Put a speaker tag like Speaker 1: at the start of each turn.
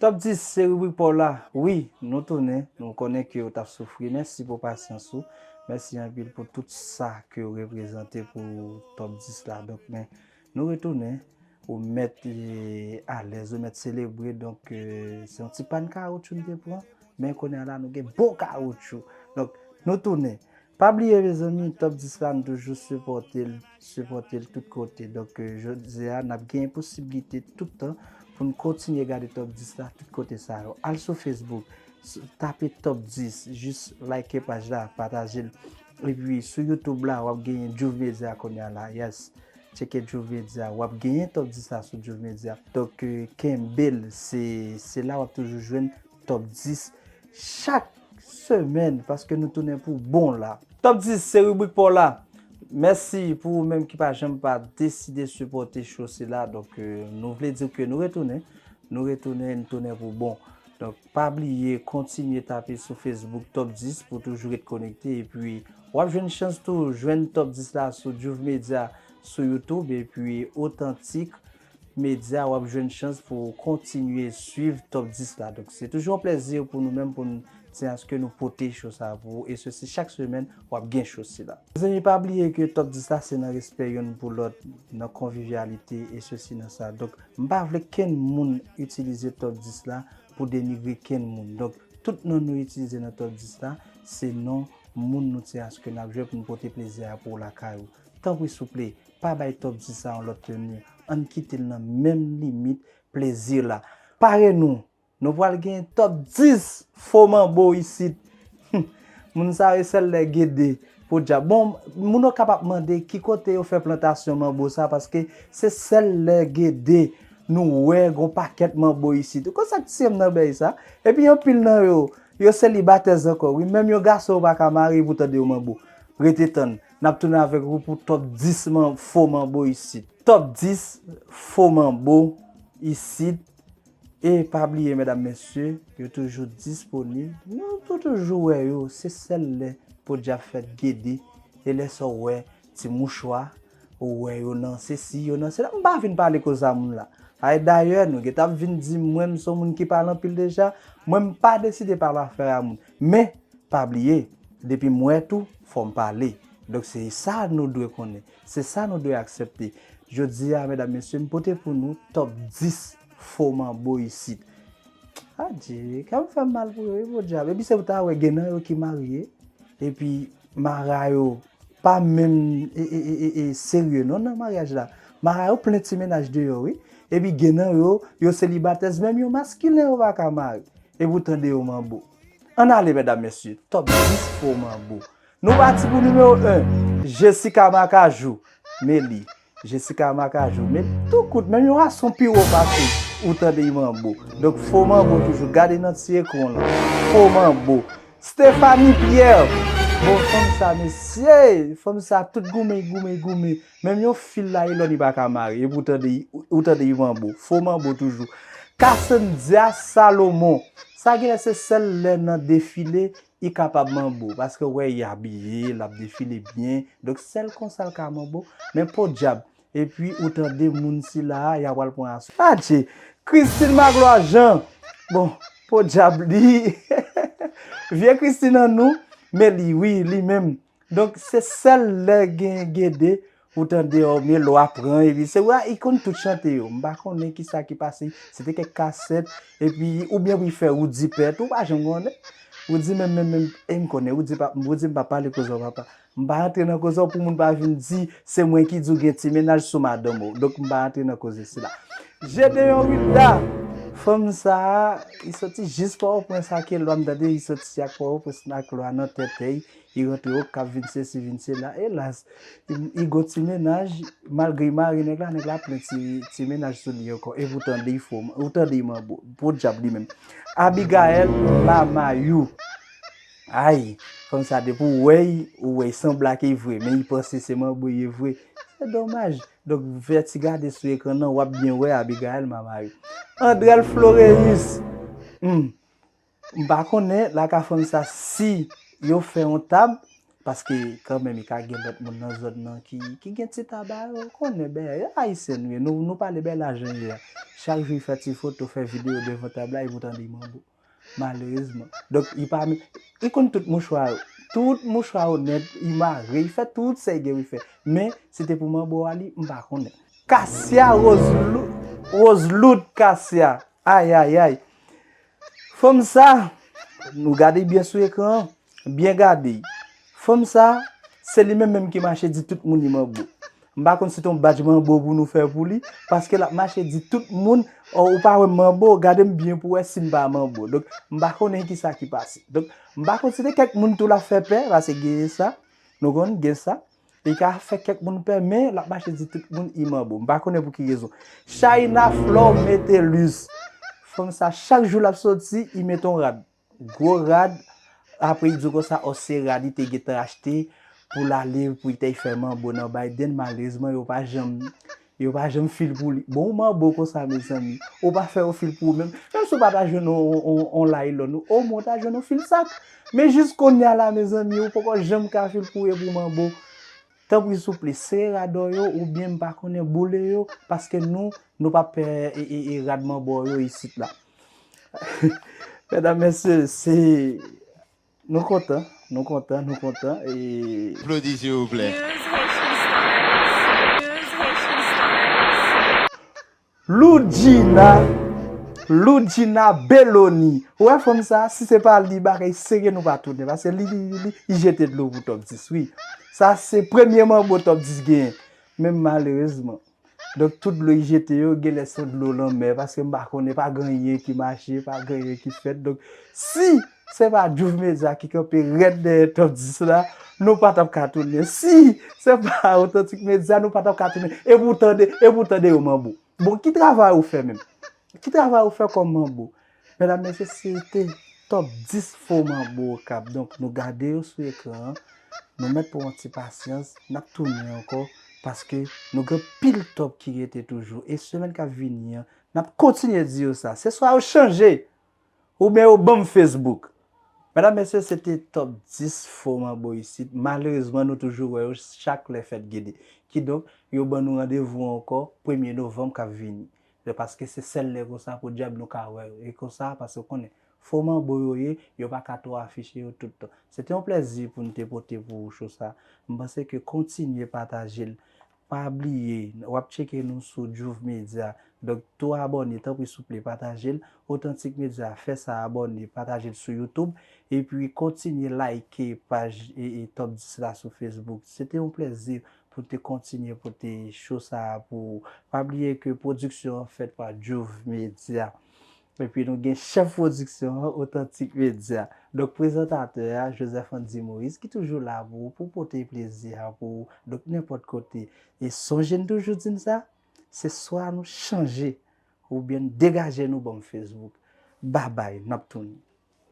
Speaker 1: Top 10 se ribrik paw la wi nou tounen nou konnen kew tap soufri mèsi pou pasyans ou mèsi anpil pou tout sa kew reprezante pou top 10 la donk men nou retounen ou mèt alèz ou mèt selebre donk se yon ti pàn kawoutchou nou te pran men kounye a la nou gen bon kawoutchou donk nou tounen Pa bliye mezanmi top 10 la m toujou sipòtel sipòtel tout kote donk jodia nap gen posiblite tout tan poun kontinye gade top 10 la tout kote sa yo al sou Facebook tape top 10 jis like paj la patajel epi sou YouTube la wap genyen Juve Media kounya la yes tcheke Juve Media wap genyen top 10 la sou Juve Media donk kenbel se la wap toujou jwenn Top 10 chak semèn paske nou tounen pou bon la. Top 10 se ribrik paw la. Mèsi pou ou menm ki pa janm pa deside sipòte cho sila. Donk nou vle diw ke nou retounen. Nou retounen, nou tounen pou bon. Donk pa bliye kontinye tape sou Facebook Top 10 pou toujou ret konekte. E pi wap jwenn chans tou jwenn Top 10 la sou Juv Media sou YouTube e pi Otantik. Media wap jwenn chans pou ou kontinye swiv top 10 la donk se toujou yon plèzi pou nou menm pou n di aske nou pote show sa pou ou e se si chak semèn wap gen show sila. Mezanmi pa bliye ke top 10 la se nan respè yonn pou lòt nan konvivyalite e se si nan sa donk m pa vle kenn moun itilize top 10 la pou denigre kenn moun donk tout non nou itilize nan top 10 la se non moun nou ti aske nap jwe pou n pote plezi a pou ou lakay ou tanpri souple Pa bay topzi sa yon lòt teni, ann kite l nan menm limit plezi la. Pare nou! Nou pral genyen Top 10 fo manbo isit! Hum! Moun sa yo sèl lè Gede, Podyab. Bon, moun Okap ap mande ki kote yo fè plantasyon manbo sa paske se sèl lè Gede nou wè gon pakèt manbo isit. Ou konn sa k tiye m nan bèy sa? Epi anpil nan yo, yo selibatèz ankò wi, menm yon gason yo pa ka marye pou w tande yo manbo. Rete tann. Nap tounen avèk wou pou top 10 fo manbo isit. Top 10 fo manbo isit e pa bliye medam mesye yo toujou disponib nou tou toujou wè yo se sèl lè podi ap fèt gede e lè sa w wè ti mouchwa ou wè yo nan sesi yo nan sela m pa vin pale koza moun la ay dayè nou gentap vin di mwen m son moun ki pale anpil deja mwen m pa deside pale afè a moun Men, pa bliye, depi m wè tou, fò m pale. Donk se sa nou dwe konnen. Se sa nou dwe aksepte. Jodi a, medam mesye, m pote pou nou top 10 fo manbo isit. Adjee, kè m fè m mal pou yo wi podyab. Epi se pou ta wè gen nan yo ki marye, epi mara yo pa menm serye non nan maryaj la. Mara yo plen ti mennaj deyò wi. Epi gen nan yo, yo selibatèz, menm yon maskilen yo pa ka mare. Epi w tande yo manbo. Ann ale medam mesye, top 10 fo manbo. Nou pati pou nimewo 1, Jessica Macajou, Meli, Jessica Macajou, Meli, tou kout menm yon ason pi wo pase ou tande y manbo. Donk fo manbo toujou, gade nan ti ekran w lan, fo manbo. Stephanie Pierre, bon fanm sa mesye, fanm sa tout goumen, goumen, goumen. Menm yon fil nayilòn li pa ka mare, epi ou tande yon manbo, fo manbo toujou. Cassandya Salomon, sa gen lè se sèl lè nan defile li kapab manbo, paske ou wè li abiye, l ap defile byen, donk sèl konsa l ka manbo, men podyab, epi ou tande moun sila a, y a pral pran aswè. Adje! Christine Magloire Jean, bon, podyab li, vye Christine an nou, men li wi, li menm, Donk se sèl lè gen gede ou tande o me lwa pran epi se wa i konn tout chante yo m pa konnen kisa ki pase se te kèk kasèt epi oubyen pou y fè Roody pèt ou pa janm konnen Roody menm menm menm e m konnen Roody pa Roody m pa pale koze w papa m pa antre nan koze w pou moun pa vin di se mwen ki di w gen ti mennaj sou madanm ou donk m pa antre nan koze sila Gédéon Wilda fanm sa a li soti jis pòtoprens ake lwa m tande li soti ak pòtoprens ak lwa nan tètèy Li rantre okap vin sesi vin sela elas igo ti mennaj malgre li mare nèg la nèg la ap plen ti mennaj sou li ankò epi ou tande yi fo ou tande yi manbo podyab li menm Abigaël ma mayou ayy fanm sa depi ou wè yi ou wè yi sanble ak yi vre men yi panse se manbo ye vre se domaj donk fè ti gade sou ekran nan wap byen wè Abigaël ma mayou Andrel Floreus humm M pa konnen la ka fanm sa si yo fè yon tab paske kanmenm e ka gen lòt moun nan zòn nan ki gen ti tab a yo konnen bèyè yo ayisyen nou ye nou pale bèyè la jan l ye a chak jou y fè ti foto fè videyo devan tab la y vout anvi manbo malerezman donk y pa menm y konn tout mouchwa yo tout mouchwa yo nèt y mare y fè tout sa y gen pou y fè men si te pou manbo a li m pa konnen. Kasia Rose Loute Kasia ayayay. Fanm sa, nou gade byen sou ekran an, byen gade. Fanm sa, se li menm menm ki mache di tout moun li manbo. M pa konn si t on badj manbo pou nou fè pou li, paske l ap mache di tout moun, oh ou pa wè m manbo, gade m byen pou wè si m pa manbo. Donk, m pa konnen ki sa ki pase. Donk, m pa konn si te kèk moun tou l ap fè pè, paske gen sa, nou konn, gen sa. Li ka fè kèk moun pè men lap mache di tout moun I manbo. M pa konnen pou ki rezon. Shaïna Flore Metellus. Fanm sa chak jou lap soti I mete yon rad. Gwo rad. Apre I di w konsa oh se rad li te gentan achte pou l ale pou li te fè manbo nan Biden. Malerezman yo pa janm Yo pa janm fil pou li. Bon ou manbo konsa mezanmi. Ou pa fè yon fil pou ou menm. Menm si ou pa ta jwenn yon laylon ou o mwen ta jwenn yon fil sak. Men jis kounya la mezanmi ou poko janm ka fil pou ou epi ou manbo. Tanpri souple sere rad or yo ou byen m pa konnen boule yo paske nou nou pa pè rad manbo yo isit la. Medam mesye se Nou kontan nou kontan nou kontan e. Plodi silvouplè. Loudjina Loudjina Belloni ou wè fanm sa si se pa li bagay serye nou pa tounen paske li li jete dlo pou top 10 wi sa se premye manbo top 10 genyen men malerezman. Donk tout dlo yi jete yo genlè son dlo lanmè paske m pa konnen pa gen anyen ki mache pa gen anyen ki fèt donk si se pa Djouf Media ki kanpe rèd dèyè Top 10 la nou pa tap ka tounen si se pa Authentic Media nou pa tap ka tounen epi w tande epi w tande yo manbo bon ki travay ou fè menm ki travay ou fè kòm manbo Medam mesye se te top 10 fo manbo okap donk nou gade yo sou ekran an nou mèt pran yon ti pasyans nap tounen ankò paske nou gen pil top ki rete toujou e semèn kap vini an nap kontinye di yo sa se swa yo chanje oubyen yo banm Facebook medam mesye se te top 10 fo manbo isit malerezman nou toujou wè yo chak lè fèt gede kidonk yo ban nou randevou ankò premye novanm kap vini yo paske se sèl lè konsa podyab nou ka wè yo e konsa paske ou konnen fo manbo yo ye yo pa ka twò afiche yo tout tan se te yon plèzi pou nou te pote pou ou cho sa m panse ke kontinye pataje l pa bliye wap tcheke nou sou Juve Media donk tou abòne tanpri souple pataje l Authentique Media fè sa abòne pataje l sou YouTube epi kontinye like paj Top 10 la sou Facebook se te yon plèzi pou te kontinye pote show sa a pou ou. Pa bliye ke pwodiksyon an fèt pa Juv Media. Epi nou gen chèf pwodiksyon an, Otantik Media. Donk prezantatè a, Joseph Andy Moïse, ki toujou la pou ou, pou pote plezi a pou ou, donk nenpòt kote. E sonje n toujou di n sa, se swa nou chanje, oubyen n degaje nou banm Facebook. Babay, n ap tounen.